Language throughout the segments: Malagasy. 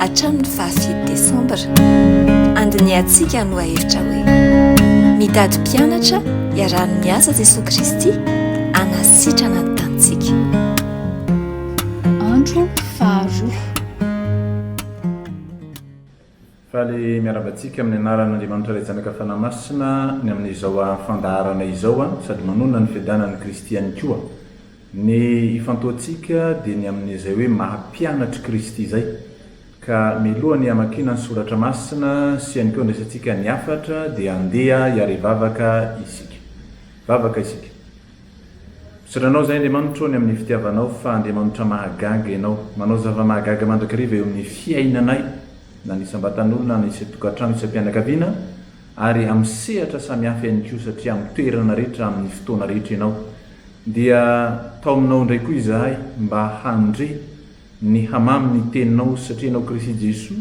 Hatramin'ny faha fito desambra, andinihantsika ny lohahevitra hoe, Mitady mpianatra iarahan'ny miasa Jesoa Kristy hanasitrana ny tanintsika. Andro faharoa. Faly miarahaba antsika amin'ny anaran'Andriamanitra Ray Zanaka Fanahy Masina ny amin'izao fandaharana izao sady manonona ny fiadanan'i Kristy ihany koa. Ny ifantohantsika dia ny amin'izay hoe maha-mpianatr'i Kristy izay. Ka mialohan'ny hamakiana ny Soratra Masina sy ihany koa handraisantsika ny hafatra dia andeha hiara hivavaka isika. Vavaka isika. Misaotra Anao izay Andriamanitro ny amin'ny fitiavanao fa Andriamanitra mahagaga Ianao. Manao zava-mahagaga mandrakariva eo amin'ny fiainanay na ny isam-batan'olona na ny isan-tokantrano, isam-pianakaviana ary amin'ny sehatra samihafa ihany koa satria amin'ny toerana rehetra, amin'ny fotoana rehetra Ianao. Dia tao aminao indray koa izahay mba handre ny hamamy ny teninao satria ianao Krisy Jesoa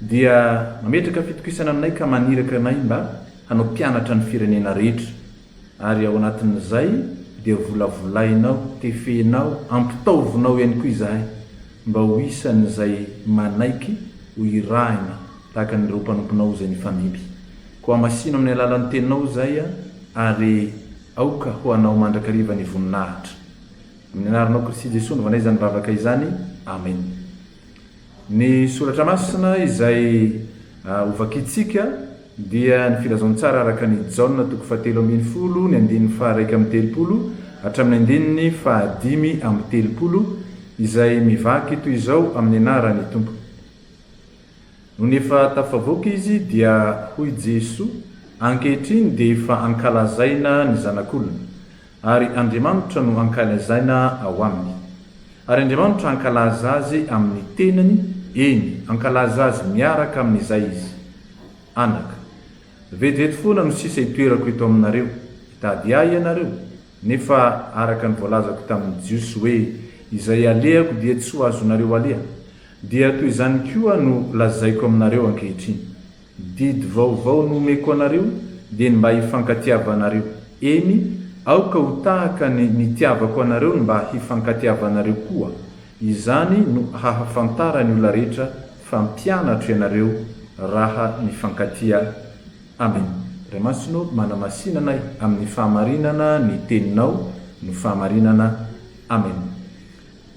dia mametraka fitokisana aminay ka maniraka anay mba hanao mpianatra ny firenena rehetra ary ao anatin'izay dia volavolainao, tefenao, ampitaovinao ihany koa izahay. Mba ho isan'izay manaiky ho irahina tahaka an'ireo mpanomponao izay nifandimby. Koa hamasino amin'ny alalan'ny Teninao izay ary aoka ho Anao mandrakariva ny voninahitra. Amin'ny Anaranao Kristy Jesoa novanahy izany vavaka izany. Amena. Ny Soratra Masina izay hovakintsika. dia ny filazantsara araka an' i Jaona toko fahatelo ambin'ny folo ny andininy faha-iraika amby telopolo hatramin'ny andininy fahadimy amby telopolo, izay mivaky toy izao amin' ny anaran' ny Tompo. Nony efa tafavoaka izy, dia hoy Jesoa, Ankehitriny dia efa ankalazaina ny Zanak'olona. Ary Andriamanitra no ankalazaina ao aminy. Ary Andriamanitra hankalaza azy amin' ny tenany, eny, hankalaza azy miaraka amin' izay izy. Anaka. Vetivety foana no sisa hitoerako eto aminareo, hitady ahy ianareo, nefa araka ny voalazako tamin' ny Jiosy hoe, Izay alehako dia tsy ho azonareo aleha, dia toy izany koa no lazaiko aminareo ankehitriny. Didy vaovao nomeko anareo dia ny mba hifankatiavanareo. Eny, aoka ho tahaka ny nitiavako anareo ny mba hifankatiavanareo koa. Izany no hahafantaran'ny olona rehetra fa mpianatro ianareo raha mifankatia. Amena. Ray Masina ô, manamasina anay amin'ny fahamarinana ny Teninao no fahamarinana. Amena.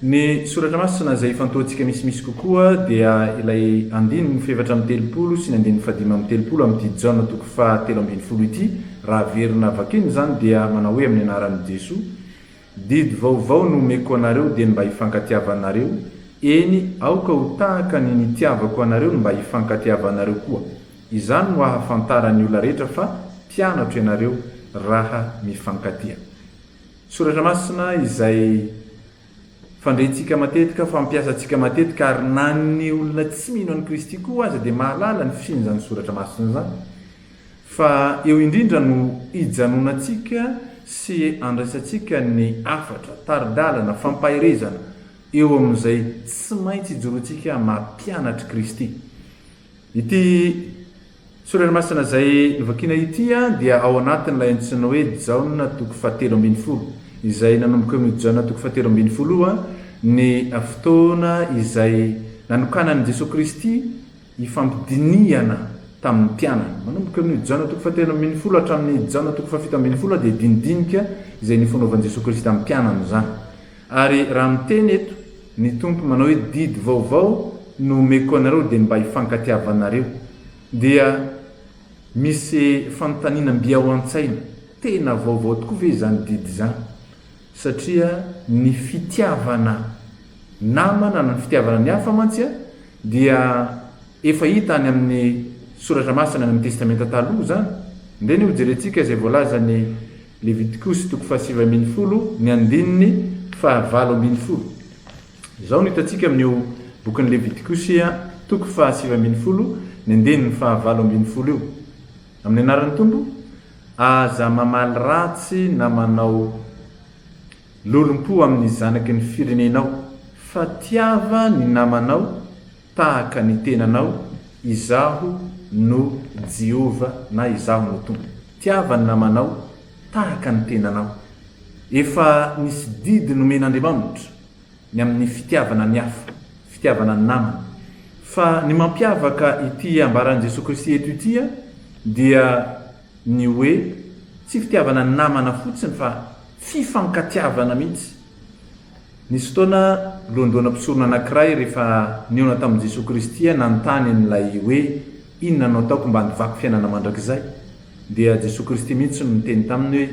Ny Soratra Masina izay ifantohantsika misimisy kokoa dia ilay andininy fahefatra amby telopolo sy ny andininy fahadimy amby telopolo amin'ity Jaona toko faha telo ambin'ny folo ity, raha averina vakina izany dia manao hoe amin'ny anaran'i Jesoa, Didy vaovao no omeko anareo dia ny mba hifankatiavanareo, eny, aoka ho tahaka ny nitiavako anareo ny mba hifankatiavanareo koa. Izany no hahafantaran'ny olona rehetra fa mpianatro ianareo raha mifankatia. Soratra Masina izay fandrentsika matetika, fampiasantsika matetika ary na ny olona tsy mino an'i Kristy koa aza dia mahalala ny fisian'izany Soratra Masina izany. Fa eo indrindra no ijanonantsika sy andraisantsika ny hafatra, tari-dalana, fampaherezana eo amin'izay tsy maintsy ijoroantsika mampianatr'i Kristy. Ity soratra masina izay novakiana ity dia ao anatin'ilay antsoina hoe Jaona toko fahatelo ambin'ny folo, izay nanomboka eo amin'io Jaona toko fahatelo ambin'ny folo io ny fotoana izay nanokanan'i Jesoa Kristy hifampidinihana tamin'ny mpianany. Manomboka eo amin'io Jaona toko fahatelo ambin'ny folo hatramin'ny Jaona toko fahafito ambin'ny folo dia dinidinika izay nifonovan-Jesoa Kristy tamin'ny mpianany izany. Ary raha miteny eto ny Tompo manao hoe didy vaovao no omeko anareo dia mba hifankatiavanareo. Dia misy fanontaniana mby ao an-tsaina, tena vaovao tokoa ve izany didy izany? Satria ny fitiavana namana na ny fitiavana ny hafa mantsy dia efa hita any amin'ny soratra masina any amin'ny testamenta taloha izany. Ndeha anie hojerentsika izay voalazan'i. Levitikosy toko fahasivy ambin'ny folo ny andininy fahavalo ambin'ny folo. Izao no hitantsika amin'io bokin'ny Levitikosy a toko fahasivy ambin'ny folo ny andininy fahavalo ambin'ny folo io, Amin'ny anaran'ny Tompo, aza mamaly ratsy na manao lolompo amin'ny zanaky ny firenenao, fa tiava ny namanao, Tahaka ny tenanao, Izaho no Jehovah na Izaho no Tompo. Tiava ny namanao tahaka ny tenanao. Efa nisy didy nomen'Andriamanitra ny amin'ny fitiavana ny hafa, fitiavana ny namana. Fa ny mampiavaka ity ambaran'i Jesoa Kristy eto ity dia ny hoe tsy fitiavana ny namana fotsiny fa fifankatiavana mihitsy. Nisy fotoana, lohandohana mpisorona anankiray rehefa nihaona tamin'i Jesoa Kristy aho nanontany an'ilay hoe, Inona no ataoko mba handovako fiainana mandrakizay? Dia Jesoa Kristy mihitsy no niteny taminy hoe,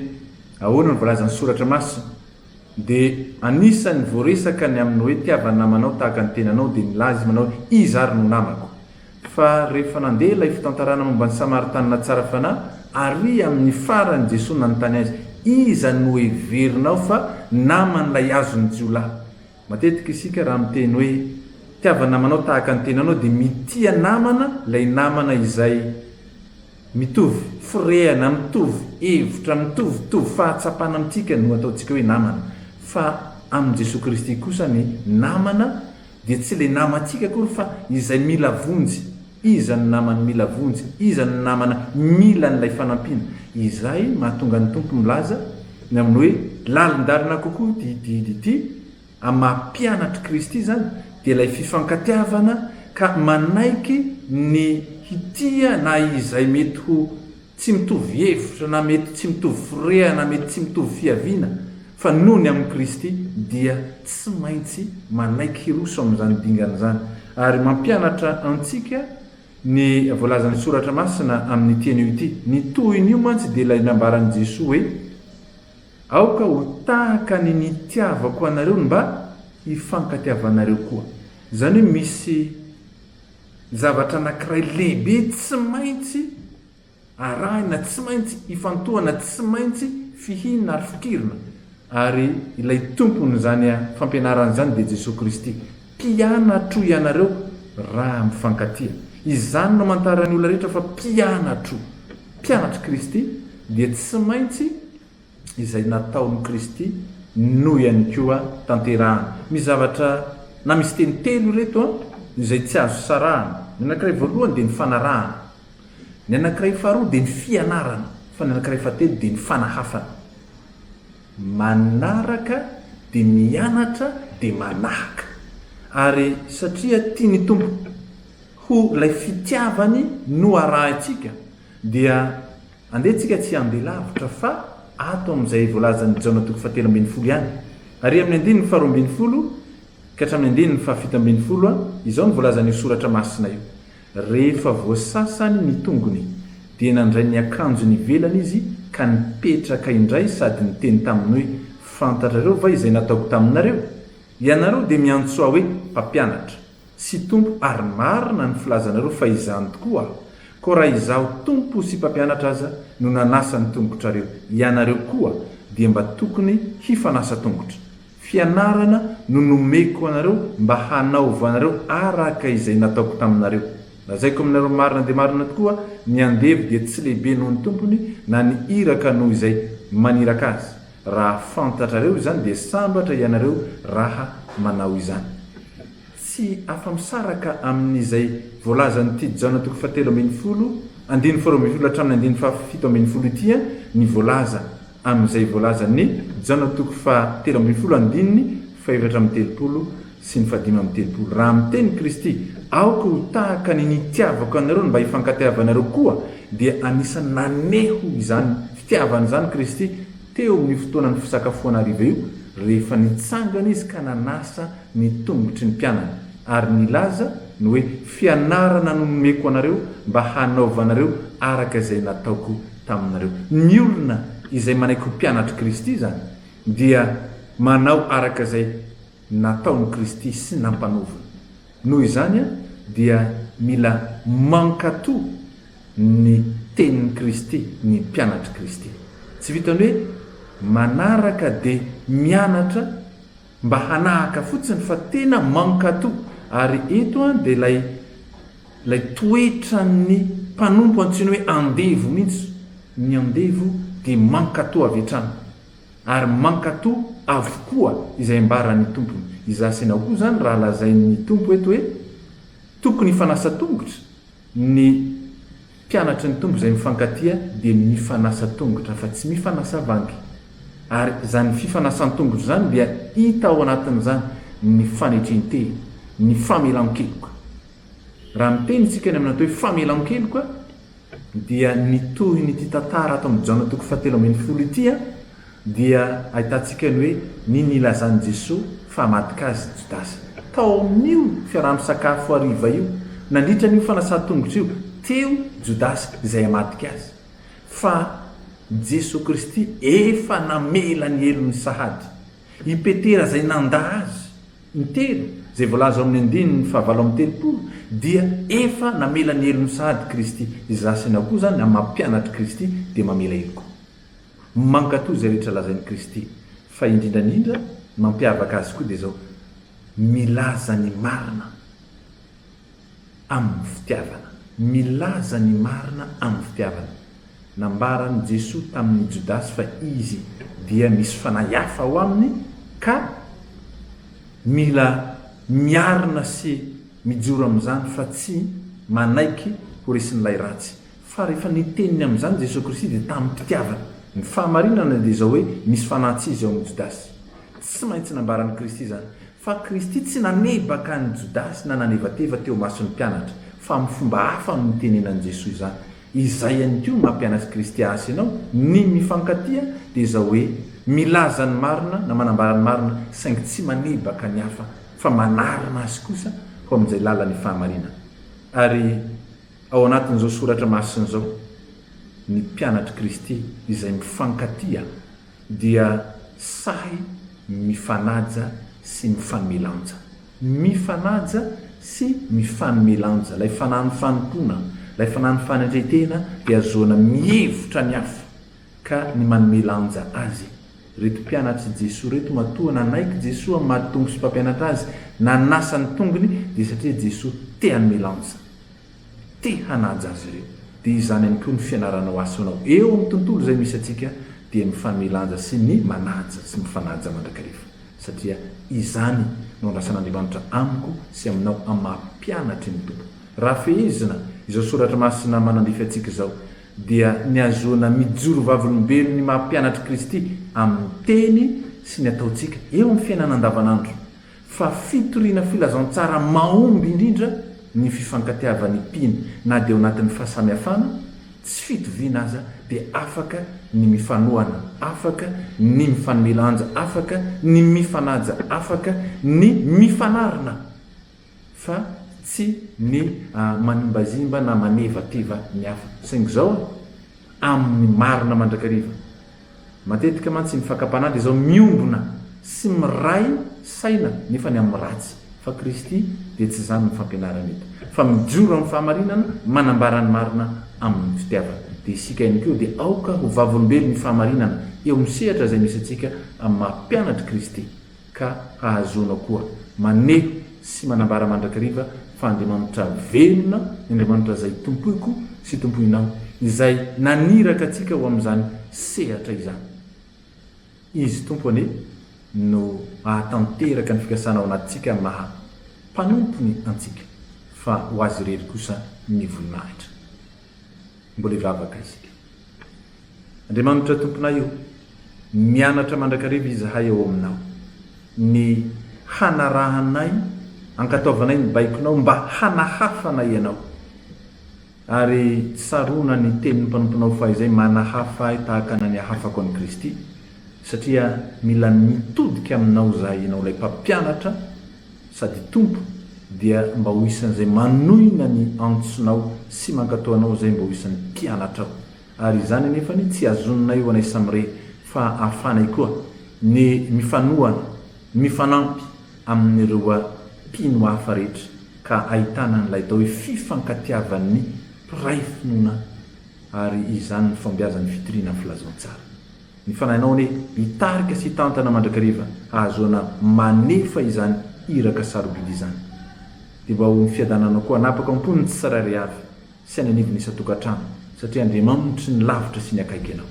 Ahoana no voalazan'ny Soratra Masina? Dia anisan'ny voaresaka ny amin'ny hoe tiava ny namanao tahaka ny tenanao, dia nilaza izy manao hoe, Iza ary no namako? Fa rehefa nandeha ilay fitantarana momba ny Samaritanina tsara fanahy, ary amin'ny farany Jesoa nanontany azy, Iza no heverinao fa naman'ilay azon'ny jiolahy? Matetika isika raha miteny hoe mitiava namanao tahaka ny tenanao dia mitia namana ilay namana izay mitovy firehana, mitovy hevitra, mitovitovy fahatsapana amintsika no ataontsika hoe namana. Fa amin'i Jesoa Kristy kosa ny namana Dia tsy ilay namantsika akory fa izay mila vonjy, iza no namany mila vonjy, iza no namana mila an'ilay fanampiana. Izay mahatonga ny Tompo milaza ny amin'ny hoe lalin-dalina kokoa ity didy ity amin'ny maha mpianatr'i Kristy izany dia ilay fifankatiavana ka manaiky ny hitia na izay mety ho Tsy mitovy hevitra na mety tsy mitovy fireha na mety tsy mitovy fiaviana fa noho ny amin'i Kristy dia tsy maintsy manaiky hiroso amin'izany dingana izany ary mampianatra antsika ny voalazan'ny Soratra Masina amin'ity anio ity. Ny tohin'io mantsy dia ilay nambaran'i Jesoa hoe Aoka ho tahaka ny nitiavako anareo ny mba hifankatiavanareo koa. Izany hoe misy Ny zavatra anankiray lehibe tsy maintsy arahina, tsy maintsy ifantohana, tsy maintsy fihinana ary fikirina, ary ilay Tompon'izany fampianarana izany dia Jesoa Kristy. Mpianatro ianareo raha mifankatia. Izany no amantaran'ny olona rehetra fa mpianatro. Mpianatr'i Kristy dia tsy maintsy. izay nataon'i Kristy no ihany koa tanterahana. Misy zavatra na misy teny telo ireto izay tsy azo sarahana, ny anankiray voalohany dia ny fanarahana, ny anankiray faharoa dia ny fianarana, fa ny anankiray fahatelo dia ny fanahafana. Manaraka dia mianatra dia manahaka. Ary satria tia ny Tompo, ho ilay fitiavany no arahintsika, dia Andeha tsika tsy handeha lavitra fa ato amin'izay voalazan'i Jaona toko fahatelo ambin'ny folo ihany. Ary amin'ny andininy faharoa ambin'ny folo ka hatramin'ny andininy fahafito ambin'ny folo, izao no voalazan'io soratra masina io, Rehefa voasasany ny tongony, dia nandray ny akanjony ivelany izy ka nipetraka indray sady niteny taminy hoe, Fantatrareo va izay nataoko taminareo? Ianareo dia miantso ahy hoe, Mpampianatra. sy Tompo ary marina ny filazanareo fa izany tokoa koa raha izaho Tompo sy mpampianatra aza no nanasa ny tongotrareo, ianareo koa dia mba tokony hifanasa tongotra. Fianarana no nomeko anareo mba hanaovanareo araka izay nataoko taminareo. Lazaiko aminareo marina dia marina tokoa, ny andevo dia tsy lehibe noho ny tompony na ny iraka noho izay maniraka azy. Raha fantatrareo izany dia sambatra ianareo raha manao izany. Tsy afa-misaraka amin'izay voalazan'i Tit Jaona toko fahatelo ambin'ny folo, andininy faharoa ambin'ny folo hatramin'ny andininy fahafito ambin'ny folo ity ny voalaza amin'izay voalazan'i Jaona toko fahatelo ambin'ny folo andininy fahefatra amby telopolo sy ny fahadimy amby telopolo, raha miteny Kristy, Aoka ho tahaka ny nitiavako anareo ny mba hifankateavanareo koa, dia anisan'ny naneho izany fitiavana izany Kristy teo amin'io fotoanan'ny fisakafoana hariva io, rehefa nitsangana izy ka nanasa ny tongotry ny mpianany, ary nilaza ny hoe, Fianarana no nomeko anareo mba hanaovanareo araka izay nataoko taminareo. Ny olona izay manaiky ho mpianatr'i Kristy izany dia manao araka izay nataon'i Kristy sy nampanaoviny. Noho izany dia mila mankato ny tenin'i Kristy ny mpianatr'i Kristy. Tsy vitan'ny hoe manaraka dia mianatra mba hanahaka fotsiny fa tena mankato ary eto dia ilay ilay toetran'ny mpanompo antsoina hoe andevo mihitsy. Ny andevo dia mankato avy hatrany. Ary mankato avokoa izay ambaran'ny Tompony. Izaho sy ianao koa izany raha lazain'ny Tompo eto hoe tokony hifanasa tongotra, ny mpianatry ny Tompo izay mifankatia dia mifanasa tongotra fa tsy mifanasa vangy. Ary izany fifanasan-tongotra izany dia hita ao anatin'izany ny fanetrentena, ny famelan-keloka. Raha miteny isika any amin'ny atao hoe famelan-keloka, dia ny tohin'ity tantara ato amin'ny Jaona toko fahatelo ambin'ny folo ity dia ahitantsika ny hoe ny nilazan'i Jesoa fa hamadika Azy Jodasy. Tao amin'io fiaraha-misakafo hariva io, nandritra an'io fanasan-tongotra io, teo Jodasy izay hamadika Azy. Fa Jesoa Kristy efa namela ny helony sahady i Petera izay nandà Azy. Intelo, izay voalaza ao amin'ny andininy fahavalo amby telopolo, dia efa namela ny helony sahady Kristy. Izaho sy ianao koa izany, amin'ny maha mpianatr'i Kristy, dia mamela helo koa. Mankatò izay rehetra lazain'i Kristy. Fa indrindra indrindra, ny mampiavaka Azy koa dia izao, milaza ny marina. amin'ny fitiavana. Milaza ny marina amin'ny fitiavana. Nambaran'i Jesoa tamin'i Jodasy fa izy dia misy fanahy hafa ao aminy ka mila miarina sy mijoro amin'izany fa tsy manaiky ho resin'ilay ratsy. Fa rehefa niteny ny amin'izany Jesoa Kristy dia tamim-pitiavana. Ny fahamarinana dia izao hoe misy fanahy tsy izy ao amin'i Jodasy. Tsy maintsy nambaran'i Kristy izany. Fa Kristy tsy nanebaka an'i Jodasy na nanevateva teo imason'ny mpianatra, fa amin'ny fomba hafa no nitenenan'i Jesoa izany. Izay ihany koa no mampianatry Kristy Asy ianao, ny mifankatia dia izao hoe, milaza ny marina na manambara ny marina saingy tsy manebaka ny hafa fa manarina azy kosa ho amin'izay lalan'ny fahamarinana. Ary ao anatin'izao soratra masina izao ny mpianatr'i Kristy izay mifankatia dia sahy mifanaja sy mifanome lanja. Mifanaja sy mifanome lanja. Ilay fanahin'ny fanompoana, ilay fanahin'ny fanendren-tena dia ahazoana mihevitra ny hafa ka ny manome lanja azy. Ireto mpianatr'i Jesoa ireto matoa nanaiky Jesoa amin'ny maha Tompo sy Mpampianatra azy, nanasa ny tongony dia satria Jesoa te hanome lanja. te hanaja azy ireo. Dia izany ihany koa ny fianaranao asonao eo amin'ny tontolo izay misy antsika dia mifanome lanja sy ny manaja sy mifanaja mandrakariva satria izany no andrasan'Andriamanitra amiko sy aminao amin'ny maha mpianatry ny Tompo. Raha fehezina izao soratra masina manandrify antsika izao dia ny ahazoana mijoro vavolombelon' ny maha mpianatr'i Kristy amin'ny teny sy ny ataontsika eo amin'ny fiainana andavanandro fa fitoriana filazantsara mahomby indrindra ny fifankatiavan'ny mpino, na dia ao anatin'ny fahasamihafana tsy fitoviana aza dia afaka ny mifanohana, afaka ny mifanome lanja, afaka ny mifanaja, afaka ny mifanarina fa tsy ny manimbazimba na manevateva ny hafa, saingy izao amin'ny marina mandrakariva. Matetika mantsy ny fakam-panandro izao miombona sy miray saina nefa ny amin'ny ratsy, fa Kristy dia tsy izany ny fampianarany eto, fa mijoro amin'ny fahamarinana, manambara ny marina amin'ny fitiavana. Dia isika ihany koa dia aoka ho vavolombelon'ny fahamarinana eo amin'ny sehatra izay misy antsika amin'ny maha mpianatr'i Kristy. ka ahazoanao koa maneho sy manambara mandrakariva fa Andriamanitra velona, ny Andriamanitra izay tompoiko sy tompoinao, izay naniraka antsika ho amin'izany sehatra izany. Izy Tompo anie no hahatanteraka ny fikasana ao anatintsika maha mpanompony antsika, fa ho Azy irery kosa ny voninahitra. Mbola hivavaka isika. Andriamanitra Tomponay o, mianatra mandrakariva izahay ao Aminao, ny hanarahanay, ankatoavanay ny baikonao mba hanahafana Ianao. Ary tsy sarona ny tenin'ny mpanomponao fahizay manahafa ahy tahaka na nihahafako an'i Kristy, satria mila mitodika Aminao izahay, Ianao ilay Mpampianatra, sady Tompo, dia mba ho isan'izay manohina ny antsonao sy mankatò Anao izay mba ho isan'ny mpianatrao. Ary izany anefa anie tsy azononay ho anay samy re, fa ahafahanay koa ny mifanohana, mifanampy amin'ireo mpino hafa rehetra, ka ahitana an'ilay atao hoe fifankatiavan'ny mpiray finoana, ary izany ny fahombiazan'ny fitoriana ny filazantsara. Ny fanahinao anie hitarika sy hitantana mandrakariva hahazoana manefa izany iraka sarobidy izany. Dia mba ho ny fiadananao koa hanapaka ao am-pony ny tsirairay avy sy any anivon'ny isan-tokantrano satria Andriamanitry ny lavitra sy ny akaiky ianao.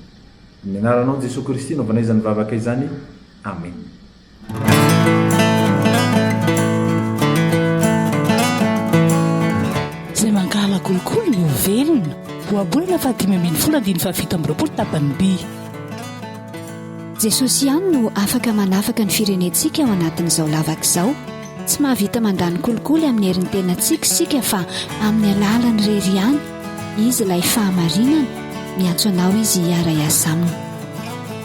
Amin'ny anaranao Jesoa Kristy no vanaizan'ny vavaka izany. Amena. Izay mankahala kolikoly no ho velona. Ohabolana faha dimy ambin'ny folo andininy faha fito amby roapolo tapany by. Jesosy ihany no afaka manafaka ny firenentsika ao anatin'izao lavaka izao. Tsy mahavita mandany kolikoly amin'ny herin'ny tenantsika isika fa amin'ny alalany irery ihany. Izy ilay fahamarinana. Miantso anao Izy hiara-hiasa aminy.